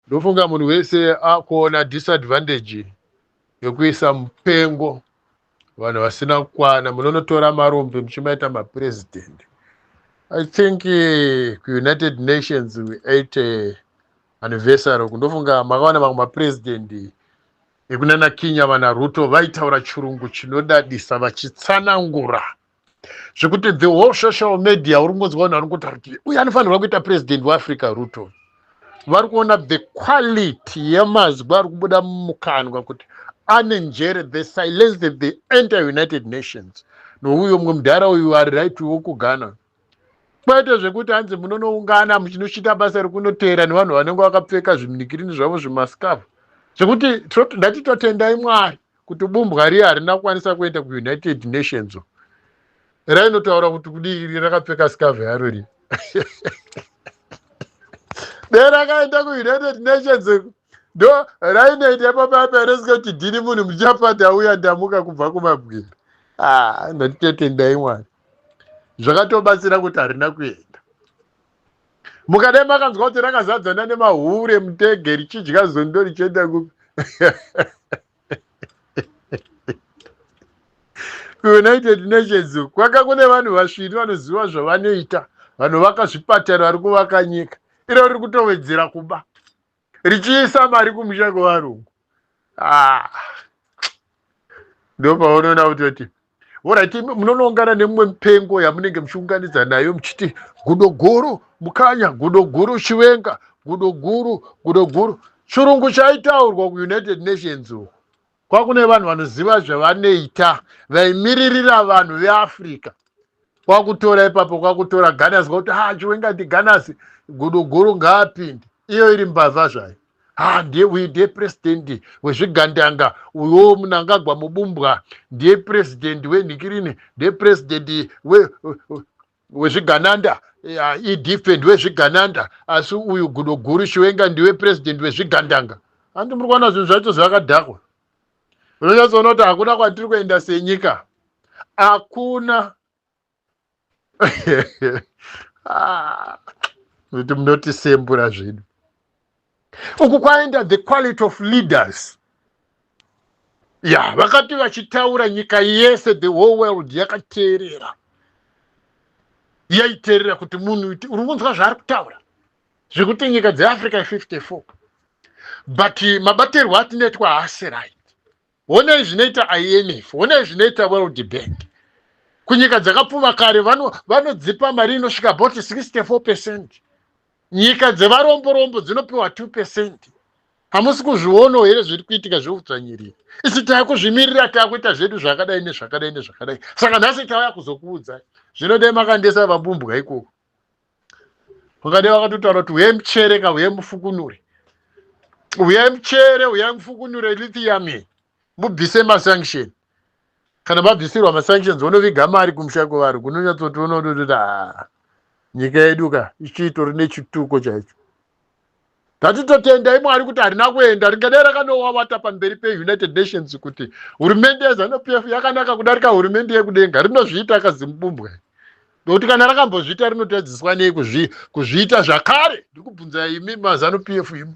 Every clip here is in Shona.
Ndofunga munhu wese akuona disadvantage yekuisa mupengo vanhu vasina kukwana munonotora marombe muchimaita mapresident i think eh, kuunited nations we ait eh, anniversary uku ndofunga makaona vamwe mapresident ekunana kinya vana ruto vaitaura chirungu chinodadisa vachitsanangura zvekuti the whole social media uri kungonzwa vanhu vari kungotaura kuti uye anofanirwa kuita president weafrica ruto vari kuona the quality yemazwi ari kubuda mumukanwa kuti ane njere the silence that the enter united nations nouyo mumwe mudhara uyu ari right wokugana kwete zvekuti hanzi munonoungana muchinochita basa rekunoteera nevanhu vanenge vakapfeka zviminikirini zvavo zvimascavu zvekuti ndati totendai mwari kuti bumbwa riya harina kukwanisa kuenda kuunited nations rainotaura kuti kudii iri rakapfeka skave yaro ri dai rakaenda kuunited nations ndo rainoita pababa resinga kuti dhini munhu muchapata uya ndamuka kubva kumabwira ah, ndotitotendai mwari zvakatobatsira kuti harina kuenda mukadai makanzwa kuti rakazadzana nemahure mutege richidya zondo richienda kupi kuunited nations kwaka kune vanhu vasviri vanoziva zvavanoita vanovaka zvipatara vari kuvaka nyika iro riri kutowedzera kuba richiisa mari kumusha kwevarungu ah. ndopaunoona kutoti orit munonoungana nemumwe mupengo yamunenge muchiunganidza nayo muchiti gudo guru mukanya gudo guru chivenga gudo guru gudo guru chirungu chaitaurwa kuunited nations uko kwakune vanhu vanoziva zvavanoita vaimiririra vanhu veafrica kwakutora ipapo kwakutora ganasi kwakuti ha ah, chiwenga ndiganasi guduguru ngaapinde iyo iri mbavha zvayo ha ndiye uyu ndiye purezidendi wezvigandanga uyoo munangagwa mubumbwa ndiye purezidendi wenhikirini ndiye purezidendi wezvigananda edf ndiwezvigananda asi uyu gudo guru chiwenga ndiwe president wezvigandanga andi muri kuona zvinhu zvacho zvakadhakwa unonyatsoona kuti hakuna kwatiri kuenda senyika hakuna ah, kuti munotisembura zvedu uku kwaenda the quality of leaders ya yeah, vakati vachitaura nyika yese the whole world yakateerera yaiteerera kuti munhu iti uri kunzwa zvaari kutaura zvekuti nyika dzeafrica 54 but mabatirwo atinoitwa haasi right honai zvinoita imf honai zvinoita world bank kunyika dzakapfuma kare vanodzipa vano mari inosvika about 64 percent nyika dzevaromborombo dzinopiwa 2 percent hamusi kuzvionawo here zviri kuitika zveudzvanyiriri isi taakuzvimirira taakuita zvedu zvakadai nezvakadai nezvakadai saka nhasi tauya kuzokuudzai zvinodai makandesa vabumbwa ikoko vakade vakatotaura kuti huyai muchere ka huyai mufukunure huyai muchere huyai mufukunure lithium iyi mubvise masanction kana mabvisirwa masanctions vonoviga mari kumusha kwevari kunonyatsotoona kuti ah, nyika yedu ka ichitori nechituko chaicho tati totendai mwari kuti harina kuenda ringadai rakanowawata pamberi peunited nations kuti hurumende yezanup f yakanaka kudarika hurumende yekudenga rinozviita kazimubumbwa nokuti kana rakambozviita rinotadziswa nei kuzviita zvakare ndiri kubvunzai imi mazanup f imi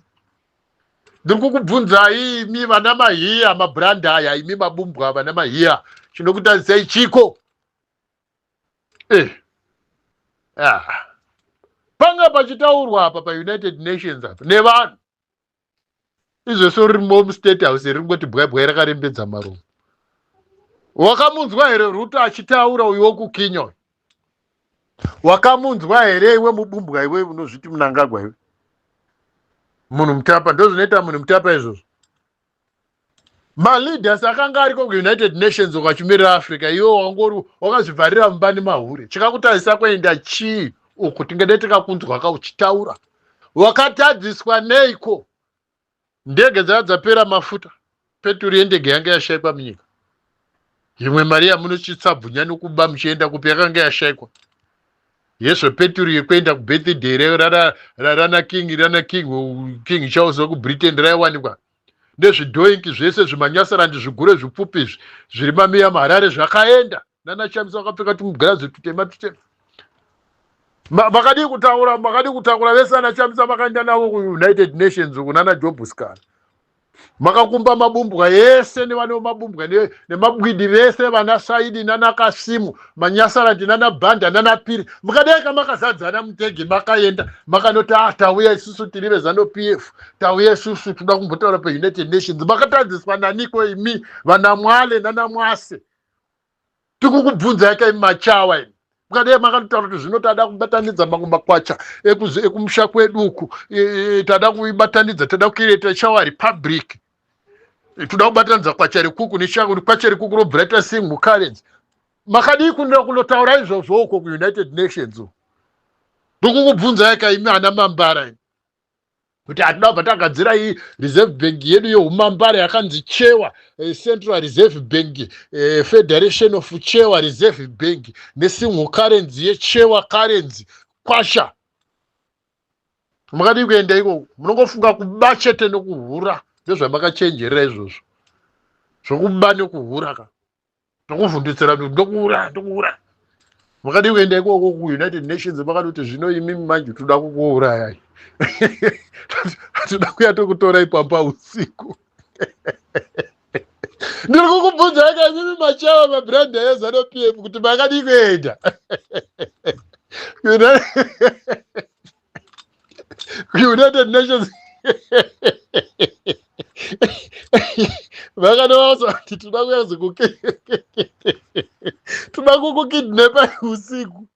ndiri kukubvunzai imi vana mahiya mabrandaya imi mabumbwa vana mahiya chinokutadzisai chiko eh. ah. panga pachitaurwa apa paunited nations apa nevanhu izvese ririmo mustate house ringoti bwaibwai rakarembedza marumu wakamunzwa here ruto achitaura uyo wokukinyoi wakamunzwa here iwe mubumbwa iwe unozviti munangagwa iwe munhu mutapa ndozvinoita munhu mutapa izvozvo maleaders akanga ariko kuunited nations ukachimirira africa iwe wangori wakazvivharira mumba nemahure chikakutarisa kuenda chii uku tingade tikakunzwa ka uchitaura wakatadziswa neiko ndege dzaa dzapera mafuta peturu yendege yange yashaikwa munyika imwe mari yamunochitsabvunya nokuba muchienda kupi yakanga yashaikwa yezvo peturu yekuenda kubirthday reyo rana king rana king king charles wekubritain raiwanikwa nezvidhoinki zvese zvimanyasarandi zvigure zvipfupi izvi zviri mamiya muharare zvakaenda nana chamisa vakapfeka tumugirazi tutema tutema makadii kutaura makadii kutakura vese ana chamisa vakaenda navo kuunited nations uku nana jobuscar makakumba mabumbwa ese nevane mabumbwa nemabwidi vese vana saidi nana kasimu manyasarandi nana bhanda nana piri mukadai kamakazadzana mutege makaenda makanoti ah tauya isusu tiri vezano p f tauya isusu tinoda kumbotaura peunited nations makatadziswa naniko imi vanamwale nanamwase tikukubvunzai ka imi machawa imi mukadai makatotaura kuti zvino tada kubatanidza mamwe makwacha ekumusha kwedu uku e, e, tada kuibatanidza tada kuireta chawa republic e, toda kubatanidza kwacha rekuku nechako kwacha rekuku robva raita single currency makadii kunira kunotaura izvozvo uko kuunited nations ndokukubvunzai ka imi ana mambara imi kuti hatida kubva tagadzira iyi reserve bank yedu yeumambare yakanzi chewa eh, central reserve bank eh, federation of chewa reserve bank nesingle currency yechewa currency kwasha makadii kuenda ikoko munongofunga kuba chete nekuhura ndozvamakachenjerera izvozvo zvokuba nekuhura ka ndokuvhunditsira kuti ndokuuraya ndokuuraya makadii kuenda ikoko kuunited nations makati kuti zvino imi manje toda kukuurayai hatoda kuya tokutorai pamba usiku ndiri kukubvunza aka imimi machawa mabrand ayezano p m kuti makadii kuenda united nations vakanovaudza kuti toda kuyazi toda kukukidnepa usiku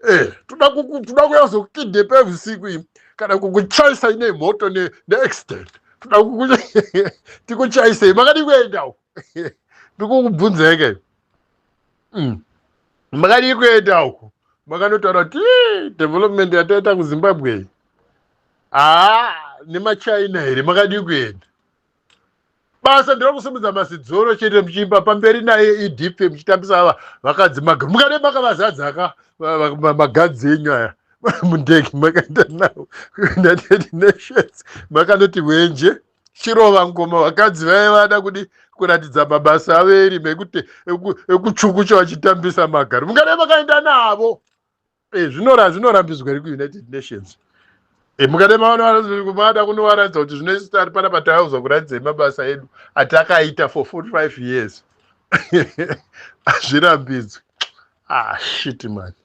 eh, toda kuyazi kukidnepa usiku ii kana kukuchaisa ine moto neaccident toda tikuchaisei makadii kuendawo ndikukubvunzeke mm. makadii kuenda uku makanotaura kuti development yataita kuzimbabwe haa ah, nemachina here makadii kuenda basa ndiro kusimudza masidzoro chete muchiimba pamberi naye edp muchitambisa ava vakadzi maga mukade makavazadzaka magadzi enyu aya mundege makaenda nawo kuunited nations makanoti wenje chirova ngoma vakadzi vaive vada kudi kuratidza mabasa avo erima ekuti ekuchukucha vachitambisa magari mungada vakaenda navo eh, zvinora zvinorambidzwa ri kuunited nations eh, mungada mavanoada kunovaratidza kuti zvino isu tari panapa taiuza kuratidzai mabasa edu atakaita for 45 years hazvirambidzwi ah shit mani